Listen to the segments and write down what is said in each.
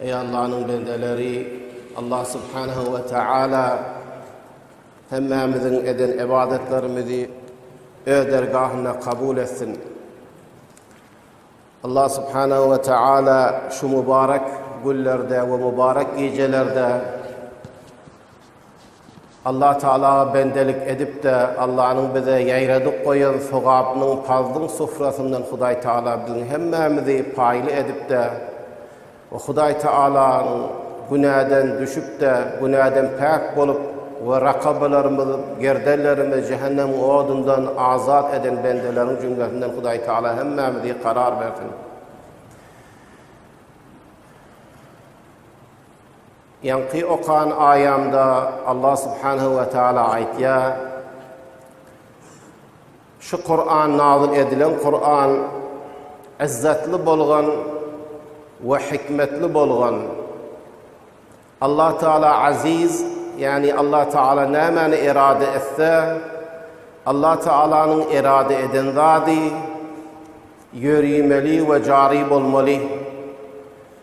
Eý Allanyň bendeleri, Allah subhanahu we taala hemmämiziň eden ibadatlarymyzy öz dergahynda kabul etsin. Allah subhanahu we taala şu mübarek günlerde we mübarek gijelerde Allah Taalaga bendelik edip-de, Allanyň bize ýaradyp goýan sogapynyň, parzlyň sufrasyndan Hudaý Taala biziň hemmämizi paýly edip-de we Hudaý Taalanyň günäden düşüp-de, günäden päk bolup we rakabalarymyz, gerdenlerimiz jähennemiň odundan azat eden bendeleriň jümlesinden Hudaý Taala hemmämizi karar bersin. Ýaňky okan aýamda Allah subhanehu we taala aýtýar, Şu Kuran nazyl edilen Kuran yzzatly bolgan we hikmetli bolgan. Allah taala aziz, ýagny Allah taala nämäni erade etse, Allah taalanyň erade eden zady ýörimeli we jary bolmaly.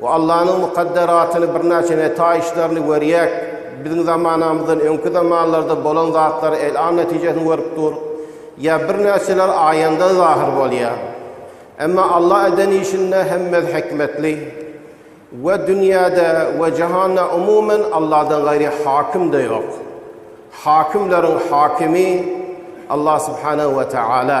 We Allanyň mukadderatyny birnäçe netaýyşlaryny görýäk. Biziň zamanamyzdan öňki zamanlarda bolan zatlary elam netijesini görüp dur. Ýa birnäçeler aýanda zahyr bolýar. Emma Alla eden işinde hemmesi hikmetli. We dünýäde we jahanda umumen Alladan gaýry hakym-da ýok. Hakymlaryň hakymy Allah subhanahu we taala.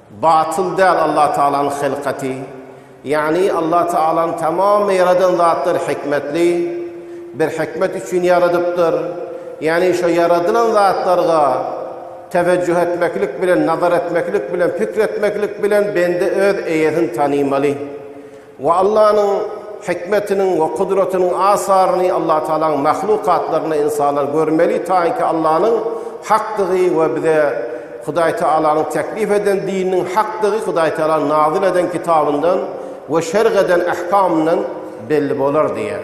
Batyl däl Allah Taalanyň hylkaty, ýagny Allah Taalanyň tamam ýaradan zatlary hikmetli, bir hikmet üçin ýaradypdyr, ýagny şo ýaradylan zatlarga tewejjuh etmeklik bilen, nazar etmeklik bilen, pikir etmeklik bilen bende öz eýesini tanymaly. We Allanyň hikmetiniň we kudratynyň asaryny Allah Tagalaň mahlukatlarynda ynsanlar görmeli taýynki Allanyň hakdygy we bize Hudaý Tagalanyň teklip eden dininiň hakdygy Hudaý Tagala nazil eden kitabyndan we şerh eden ähkamyndan belli bolar diýýär.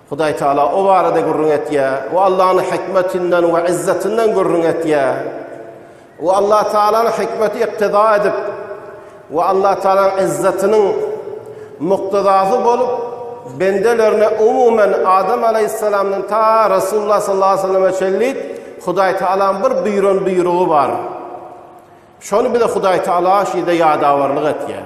Hudaý Taala o barada gürrüň etýär. O Allanyň hikmetinden we izzetinden gürrüň etýär. O Allah Taalanyň hikmeti yktyda edip we Allah Taalanyň izzetiniň muktadasy bolup, bendelerine umumen Adam aleýhissalamdan ta Resulullah sallallahu aleyhi ve selleme çenli Hudaý Taalanyň bir buýran buýrugy bar. Şony bize Hudaý Taala şeýde ýadawarlyk etýär.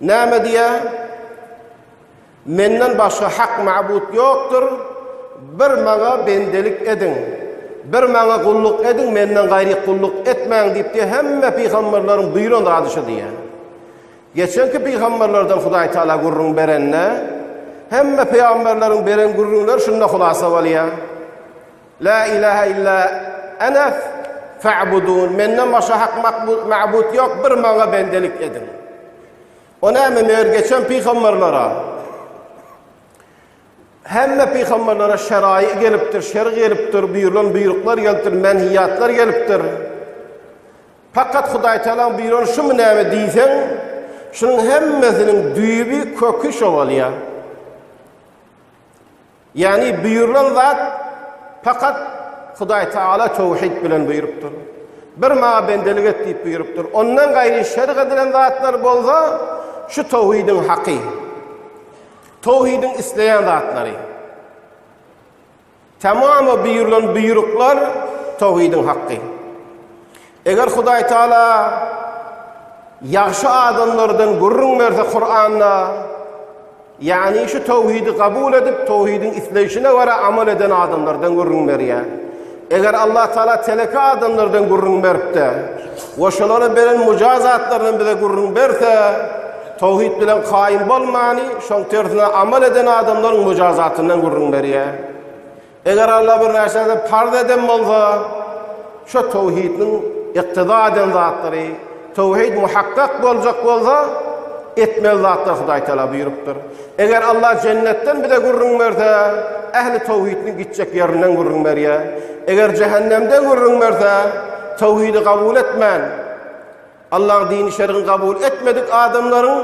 Näme diýýär? Menden başga hak mabut ýokdur, bir Maňa bendelik ediň, bir Maňa gulluk ediň, Menden gaýry gulluk etmäň diýip diýýär, hemme pygamberleriň buýran zady şu diýýär. Geçenki pygamberlerden Hudaý Taala gürrüň berende, hemme pygamberleriň beren gürrüňleri şunda hulasa bolýar. La ilahe illa ene fa'budun. Menden başga hak makbul ma'bud yok, bir maňa bendelik edin. O näme meger geçen pygamberlere? Hemme pygamberlere şerai gelipdir, şer gelipdir, buyurulan buyruklar gelipdir, menhiyatlar gelipdir. Fakat Hudaý Teala buyuran şu mu näme diýseň, şunuň hemmesiniň düýbi, köki şo bolýar. Ýagny buýrulan zat pakat Hudaý Taala töwhid bilen buýrupdyr. Bir maňa bendelik et diýip buýrupdyr. Ondan gaýry şerh edilen zatlar bolsa şu töwhidiň haky. Töwhidiň isleýän zatlary. Tamamy buýrulan buýruklar töwhidiň haky. Eger Hudaý Taala ýagşy adamlardan gürrüň berse Kuranda, ýagny şu towhidi kabul edip, towhidiň isleýşine görä amal eden adamlardan gürrüň berýär. Eger Allah Taala teleki adamlardan gürrüň beripdi, we şolara beren mujazatlaryndan bize gürrüň berse, towhid bilen kaýym bolmany, şoň tersine amal eden adamlaryň mujazatyndan gürrüň berýär. Eger Alla bir närseni parz eden bolsa, şo töwhidiniň yktyda eden zatlary, töwhid muhakkak boljak bolsa, etmeli zatlary Hudaý Tagala buýrupdyr. Eger Alla jennetden bize gürrüň berse, ähli töwhidiniň gitjek ýerinden gürrüň berýär. Eger jähennemden gürrüň berse, töwhidi kabul etmän, Allah dini şergin kabul etmedik adamlaryň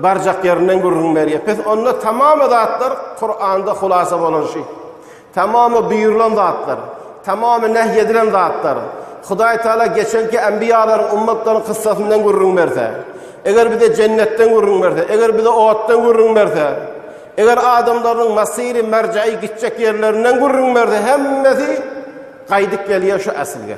barjak ýerinden gürrüň berýär. Pes onda tamamy zatlar Kuranda hulasa bolan şi. Tamamy buyurulan zatlar, tamamy nehy edilen zatlar. Hudaý Taala geçenki enbiýalaryň ummatlaryň kyssasyndan gürrüň berse, eger bize jennetden gürrüň berse, eger bize otdan gürrüň berse, eger adamlaryň masiri merjaýy gitjek ýerlerinden gürrüň berse, hemmesi gaýdyp gelýär şu aslga.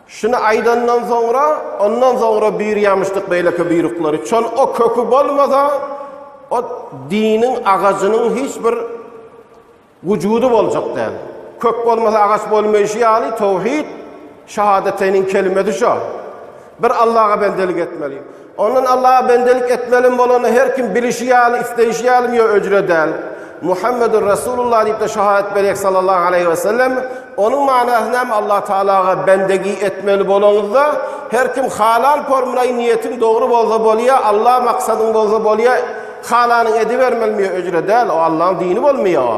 Şuny aýdandan soňra, ondan soňra birýamyşdyk beýleki buýruklary, çol o köki bolmasa, o diniň agajynyň hiç bir wujudy boljak däl. Kök bolmasa agaç bolmaýşy ýaly, towhid, şahadateýniň kelimesi şo. Bir Allaha bendelik etmeli. Ondan Allaha bendelik etmelem bolany her kim bilişi ýaly, isleýşi ýaly mýo öcre däl. Muhammedun Rasulullah diýip-de şahadat berýek sallallahu aleýhi we sellem. Onuň manasy näme Allah Tagalaga bendegi etmeli bolaňyzda her kim halal pormynaý niýetiň dogry bolsa bolýa Allah maksadyň bolsa bolýa halanyň edibermeli mýo öcre däl o Allaň dini bolmýa o.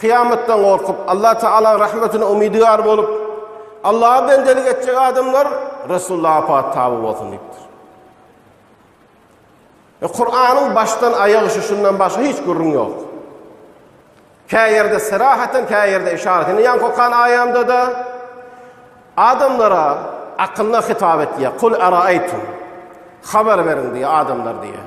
Kyýamatdan gorkup, Allah Tagalaň rahmetine umydygär bolup, Allaha bendelik etjek adamlar Resulullaha pat taby bolsun diýipdir. E, Kur'anyň başdan aýagy şu şundan başga hiç gürrüň ýok. Kä ýerde serahaten, kä ýerde işaret. Indi ýan kokan aýamda da adamlara akylla hitap etýär. Kul araýtum. Habar beriň diýýär adamlar diýýär.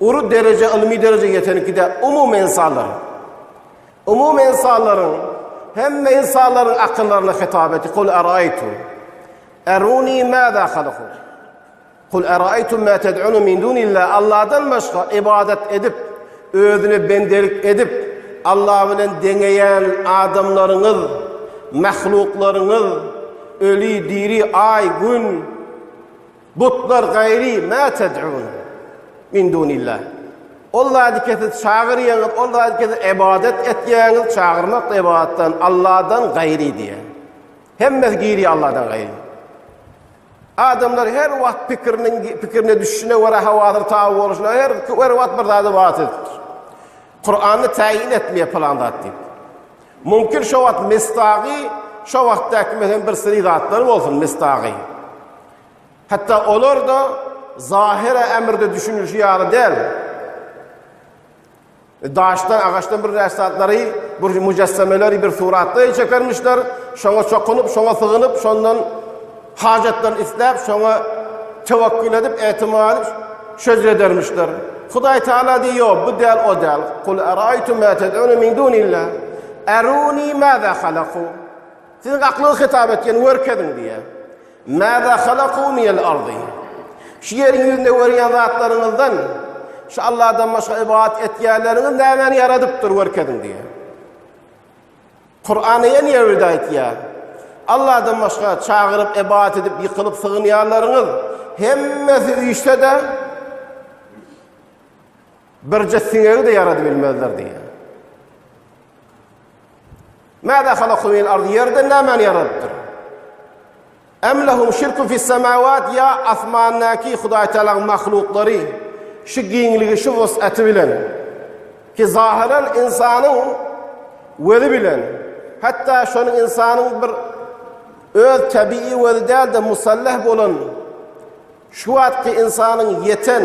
Uly derejä, ylmy derejä ýetenki-de umumy ynsanlar. Umumy ynsanlaryň, hemme ynsanlaryň akyllaryna hitap etdi. Kul araýtu. Eruni maza halaku. Kul araýtu ma ted'unu min dunillah. Allahdan başga ibadat edip, özüne bendelik edip, Allah bilen deňeýän adamlaryňyz, mahluklaryňyz, öli, diri, aý, gün, Butlar gaýry ma ted'un min dunillah. Ol zady ki siz çagyrýaňyz, ol zady ki siz ybadat etýäňiz, çagyrmak da ybadatdan, Allahdan gaýry diýýär. Hemmesi girýär Allahdan gaýry. Adamlar her wagt pikiriniň pikirine düşüne görä hawadyr taw boluşuna her her wagt bir zady waat edipdir. Kur'an'da tayin etmeye plan zat diýip. Mümkin şu wagt mestagy şu wagtdaky menen bir siri zatlar bolsun mestagy. Hatda olar-da zahire ämirde düşünilişi ýaly däl. Daşdan, agaçdan bir näçe zatlary, bir müjessemeleri bir suratda çekermişler, şoňa çokunyp, şoňa sygynyp, şondan hajatlaryny isläp, şoňa tewekkül edip, etimat edip, şeýle edermişler. Hudaý Taala diýýär, bu däl, o däl. Kul araýtum ma tad'una min dunillah. Aruni ma za halaku. Siziň aklyňyz hitap etýän görkeziň diýýär. Mäza halakuu minel ardi. Şu ýeriň ýüzünde görýän zatlaryňyzdan şu Allahdan başga ybadat etýänleriňiz nämäni ýaradypdyr görkeziň diýýär. Kuran ýene ýerde aýtýar. Allahdan başga çagyryp ybadat edip ýykylyp sygynýanlaryňyz hemmesi üýşse-de birje siňegi-de ýaradyp bilmezler diýýär. Mäzâ halaka minel ardy, ýerden nämäni ýaradypdyr? Em lehum şirkun fissemâwât, ýa asmandaky Hudaý Tagalaň mahluklary şu giňligi, şu wus'aty bilen, ki zahyran ynsanyň wezi bilen, hatda şonuň ynsanyň bir öz tebigy wezi däl-de musalleh bolan şu wagtky ynsanyň ýeten,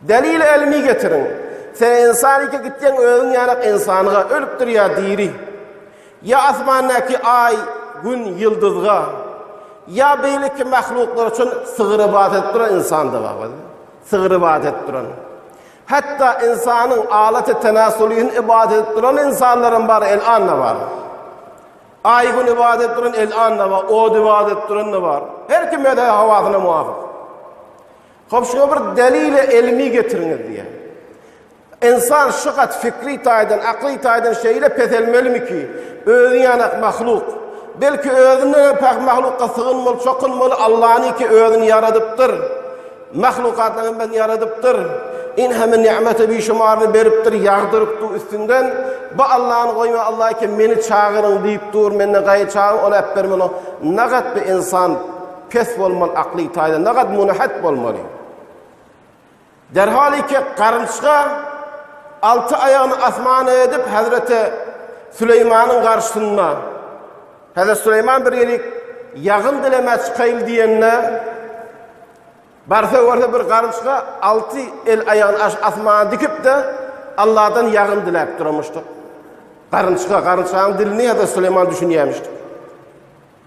Delil elmi getiriň. Sen ensanike gitseň özüň ýanak ensanğa, ölüpdir ýa diri. Ýa asmandaki aý, gün, ýyldyzga. Ýa beýleki mahluklar üçin sygyr ybadat edip duran ensandy wagz. Sygyr ybadat edip duran. Hatda ensanyň alaty tenasulyny ybadat edip duran ensanlaram bar elanda bar. Aý gün ybadat edip duran elanda bar, ot ybadat edip duran da bar. Her kim öz hawasyna muwafyk. Hop şuňa bir delile elmi getiriňiz diýýär. Ensan şygat fikri taýdan, akly taýdan şeýle peselmelimi ki, özi ýanak mahluk. Belki özünden hem päk mahlukka sygynmaly, çokunmaly, Allany ki özüni ýaradypdyr. Mahlukatdan hem ben ýaradypdyr. In hem nimeti bir şumarly beripdir, ýagdyrypdy üstünden. Bu Allany goýma, Allah ki meni çagyryň diýip dur, menden gaýy çagyr, ol äp bermeli. Nagat bir ensan Pes bolmaly akly taýdan nagat munahat bolmaly. Derhal iki garynçga alty aýagyny asmana edip Hazreti Süleýmanyň garşysynda. Hazreti Süleýman bir ýerik ýagyn dilemä çykaýyl diýende barsa görse bir garynçga alty el aýagyny asmana dikip de Allahdan ýagyn diläp duramyşdyk. Garynçga, garynçgaň dilini Hazreti Süleýman düşünýämişdi.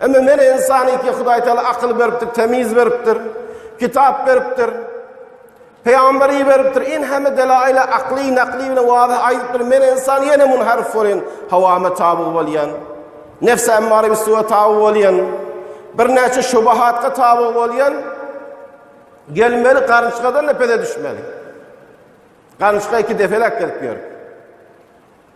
Emma men insan iti Hudaý Taala akyl beripdir, temiz beripdir, kitap beripdir. Peýamber iberipdir. In hemme delaýla akly, nakly bilen wadah aýdypdyr. Men insan ýene munharif bolýan, hawama taby bolýan. Nefs emmara bisuwa taby bolýan. Birnäçe şubahatga taby bolýan. Gelmeli garynçgadan da pede düşmeli. Garynçga iki defelek gelip ýör.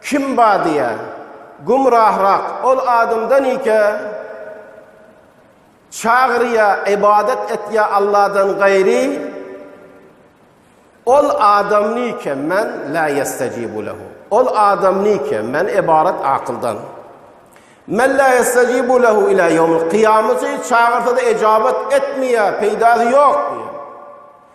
Kim ba diýä, gümrahrak ol adamdan ike, çagyrýa, ybadat etýä Alladan gaýry, ol adam nike men la ýestajibu lehu. Ol adam nike men ybarat akyldan. Men la ýestajibu lehu ila ýomul qiyameti çagyrsa-da ejabat etmeýä, peýdasy ýok diýä.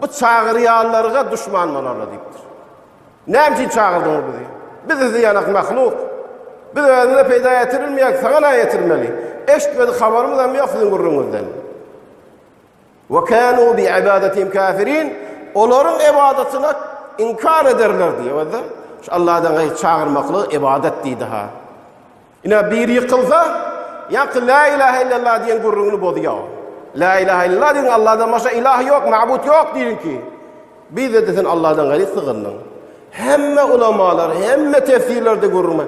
Bu çagyrýanlarga duşman bolarlar diýipdir. Näme üçin çagyrdyňyz bizi? Biz sizi ýanak mahluk. Biz özümize peýda ýetirilmeýäk, saňa näme ýetirmeli? Eşitmedik habarymyz hem ýok siziň gürrüňiňizden. Ve kanu bi ibadatim kafirin. Olaryň ibadatyna inkar ederler diýip, Şu Allahdan gaýry çagyrmaklyk ibadat diýdi ha. Ine, biri ýykylsa, ýaňky Lä ilahe illallah diýen gürrüňini bozýar. Lä ilahe illallah diýiň, Allahdan başga ilah ýok, mabut ýok diýiň ki, biz-de sen Allahdan gaýry sygyndyň. Hemme ulamalar, hemme tefsirlerde gürrüňi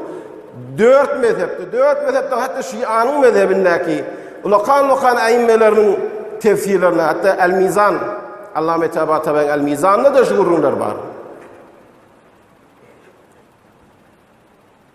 dört mezhepde, dört mezhepde hatda Şianyň mezhebindäki ulakan-ulakan äimmeleriniň tefsirlerinde, hatda El-Mizan, Allame Tabatabaýyň El-Mizanynda da şu gürrüňler bar.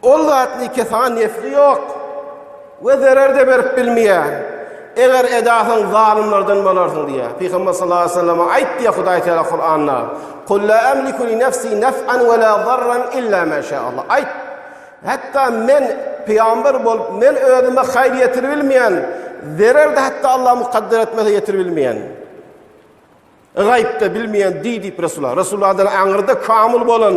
Ol zat nike saňa nefli ýok we zerer-de berip bilmeýär. Eger edasaň zalymlardan bolarsyň diýýär. Pygamber sallallahu aleyhi ve selleme aýt diýýär Hudaý Teala Kuranda. Kul la amliku li nefsi nef'an we la zarran illa ma şa Allah. Aýt. Hatda men pygamber bolup men özüme haýyr ýetirip bilmeýän, zerer-de hatda Allah mukadder etmese ýetirip bilmeýän. Gaýypda bilmeýän diý diýip Resulullah. Resulullah adan aňyrda kamil bolan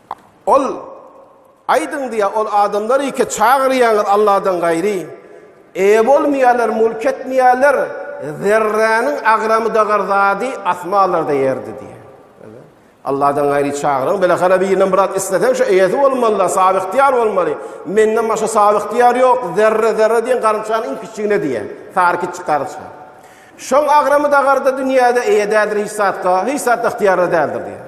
Ol, Aýdyň diýýär, ol adamlar ike çagyrýaňyz Allahdan gaýry, eýe bolmaýarlar, mülk etmeýärler, zerräniň agramydagr zady asmanlarda ýerde diýýär. Allahdan gaýry çagyryň, bile hara birinden bir zat isleseň şu eýesi bolmaly-da, sabyhtyýar bolmaly. Menden başga sabyhtyýar ýok, zerre, zerre diýen garynçanyň iň kiçjigine diýýär, sary kiçjik garynça. Şoň agramydagrda dünýäde eýe däldir hiç zatga, hiç zatda ygtyýarly däldir diýýär.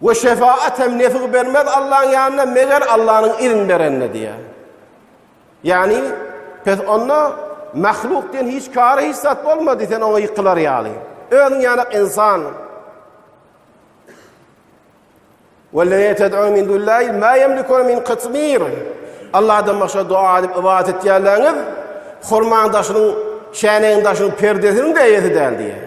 We şefaat hem nefig bermez Allaň ýanynda meger Allanyň izin berenine diýýär. Ýagny pes onda mahluk diýen hiç kary hiç zat bolmady sen oňa ýykylar ýaly. Özüň ýaly insan. Wellezine ted'un min dullahi ma yemlikun min qitmir. Allahdan başga dua edip ibadet etýänleriňiz hurmaň daşynyň, şänegiň daşynyň perdesiniň de eýesi däl diýýär.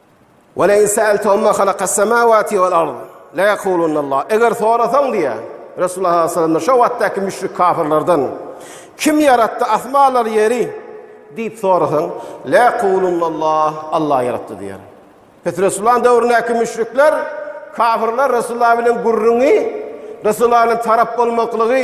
Wala in sa'altahum ma khalaqas samawati wal ard la yaqulunna Allah. Eger sorasaň diýä. Resulullah sallallahu aleyhi ve sellem şu wagtdaky müşrik kafirlerden kim ýaratdy asmanlar ýeri diýip sorasaň la yaqulunna Allah. Allah ýaratdy diýer. Pes Resulullah döwründäki müşrikler kafirler Resulullah bilen gürrüňi Resulullah bilen tarap bolmaklygy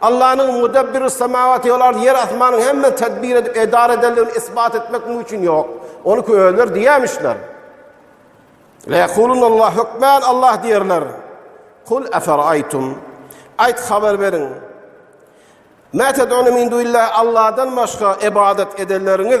Allanyň Mudabbirus-Samawati vel-ard, ýer asmanyň hemmesini tedbir edip, edara edendigini isbat etmek muň üçin ýok. Ony ki özleri diýämişler. Leýekulunallah, hökmän Allah diýerler. Kul eferaýtum, aýt habar beriň, Mä ted'une min dunillahi, Alladan başga ebadat edenleriňiz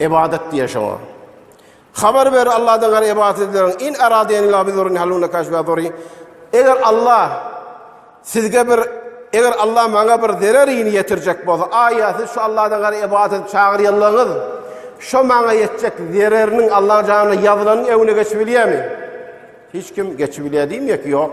Ybadat diýen şoňa. Habar ber Allahdan gaýry ybadat edileriň in aradeni la bizurun haluna kaşba zuri. Eger Allah sizge bir eger Allah maňa bir zerer ini ýetirjek bolsa, aýa siz şu Allahdan gaýry ybadat edip çagyrýanlaryňyz şu maňa ýetjek zereriniň Allah janyna ýazylan öwüne geçip bilýärmi? Hiç kim geçip bilýär diýmek ýok.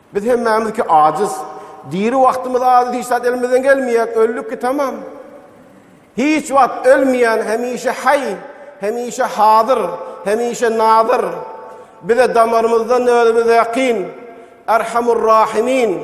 Biz hemmämizki ajyz. Diri wagtymyz ajyz hiç zat elimizden gelmeýär, öldük ki tamam. Hiç wagt ölmeýän hemişe haý, hemişe hazyr, hemişe nazyr. Bize damarymyzdan özümiz ýakyn, Erhamur Rahimin.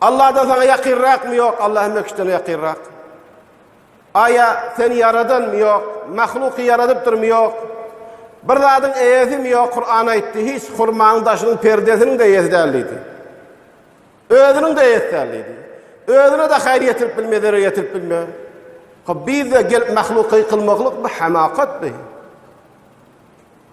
Allahdan saňa ýakynrakmy ýok Allah hemme kişiden ýakynrak. Aýa seni ýaradanmy ýok, mahluky ýaradypdyrmy ýok. Bir zadyň eýesimi ýok Kur'an aýtdy hiç hurmaň daşynyň perdesiniň de eýesi däl diýdi. Özüniň de eýesi däl diýdi. Özüne de haýyr ýetirip bilme, zerer ýetirip bilme. Hop bizde gelip mahluky kylmaklyk bu hamakat bu.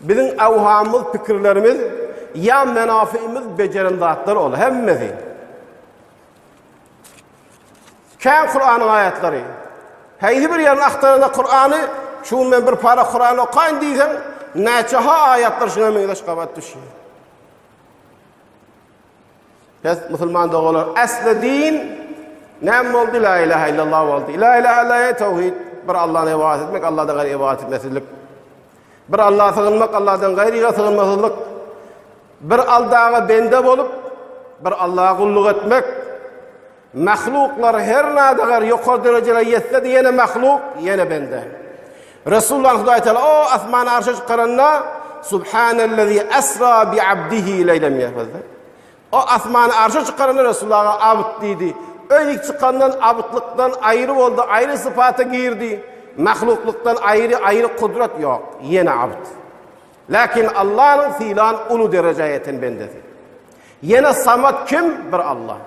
Biziň ewhamyz, pikirlerimiz ýa menafyymyz bejeren zatlar ol hemmesi. Kän Kur'anyň aýatlary. Heýsi bir ýerini agtaranda Kur'any, şu gün men bir para Kur'an okaýyn diýseň, näçe ha aýatlar şuna meňzeş gabat düşýär. Pes musulman dogalar asli din näme boldy la ilaha illallah boldy. La ilaha illallah tawhid bir Allah'a ibadet etmek Allah'dan gaýry ibadet etmesizlik. Bir Allah'a sığınmak Allah'dan gaýryga sığınmasızlyk. Bir Allah'a bende bolup bir Allah'a gulluk etmek Mahluklar her nadagr ýokary derejelere ýetsede ýene mahluk, ýene bende. Resulullah Hudaý Teala o asmana arşa çykaranda Subhanellezi esra bi abdihi leýlem ýahwezde. O asmana arşa çykaranda Resulullaha abd diýdi. Öý dik çykandan abdlykdan aýry boldy, aýry sypata girdi. Mahluklykdan aýry, aýry kudrat ýok, ýene abd. Lakin Allanyň sylan uly derejä ýeten bendesi. Ýene Samat kim? Bir Allah.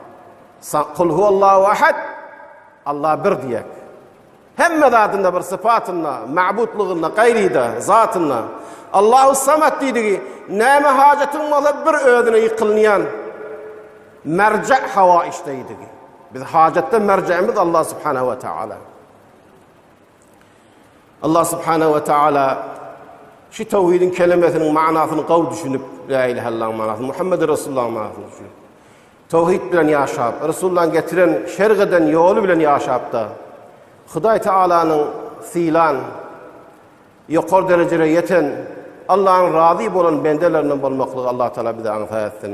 Kul huwallahu ahad. Allah bir diýek. Hemme zatynda bir sypatynda, mabudlygynda, gaýryda, zatynda. Allahu samat diýdigi, näme hajatyň bolsa bir özüne ýykylýan. Merje hawa işdeýdigi. Biz hajatda merjemiz Allah subhanahu wa taala. Allah subhanahu wa ta'ala şu tawhidin kelimesiniň manasyny gawy düşünip, la ilaha illallah manasyny, Muhammed Resulullah manasyny düşünip. Tawhid bilen ýaşap, Resulullah'yň getiren şerh eden ýoly bilen ýaşapda Hudaý Taalanyň sylan ýokar derejede ýeten Allah'yň razy bolan bendelerinden bolmaklygy Allah Taala bize aňsat etsin.